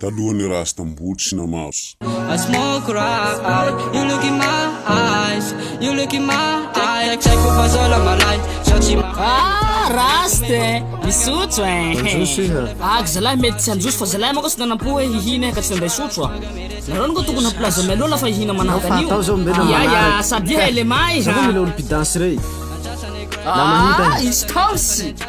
talohan'ny Rastamboly sy Namars. I smoke right, you look in my eyes, you look in my eyes, tsy haiko fa zao la malay, zao tsy mahay. Ah Rasta e, misotro e. Anjosy iha. Ag zalahy mety tsy anjosy fa zalahy manko tsy nanam-po hoe hihina ka tsy nandray sotro a. Nareo anko tokony hampilaza mialoha la fa hihina manahaka an'io. Atao zao mbela manahaka. Ia ia, sabia e lema e. Zao mila olo-pidansy rey. Ah, izy kaosy.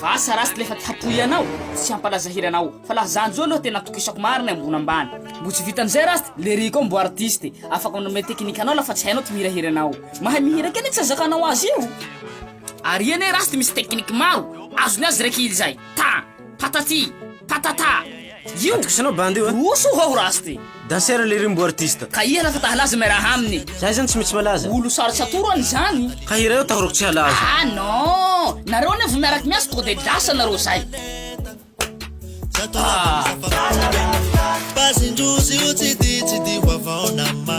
Va sa raha tsy lefa te hapoy anao sy hampalaza hira anao fa la zany zo aloha tena atokisako marina ambony ambany mbo tsy vitan'izay raha st le rico mbo artiste e afaka manome technique anao la fa tsy hainao ty mihira hira anao mahay mihira kely tsy azakanao azy io ary eny e raha st misy technique maro azony azy raiky ilzay ta patati patata Io! Atokisanao bandy io a! Roso hoa ho race ty! Danseur lery mbo artiste. Ka iha lasa tahalaza miaraha aminy. Za izany tsy mety tsy malaza. Olo sarotsy atoro any izany. Ka hira io tahorako tsy halaza. Ah non! Nareo anie vao miaraky miasa tonga dia lasa nareo zay. Ah. Base ndrozy io tsy di tsy di vavaona ma.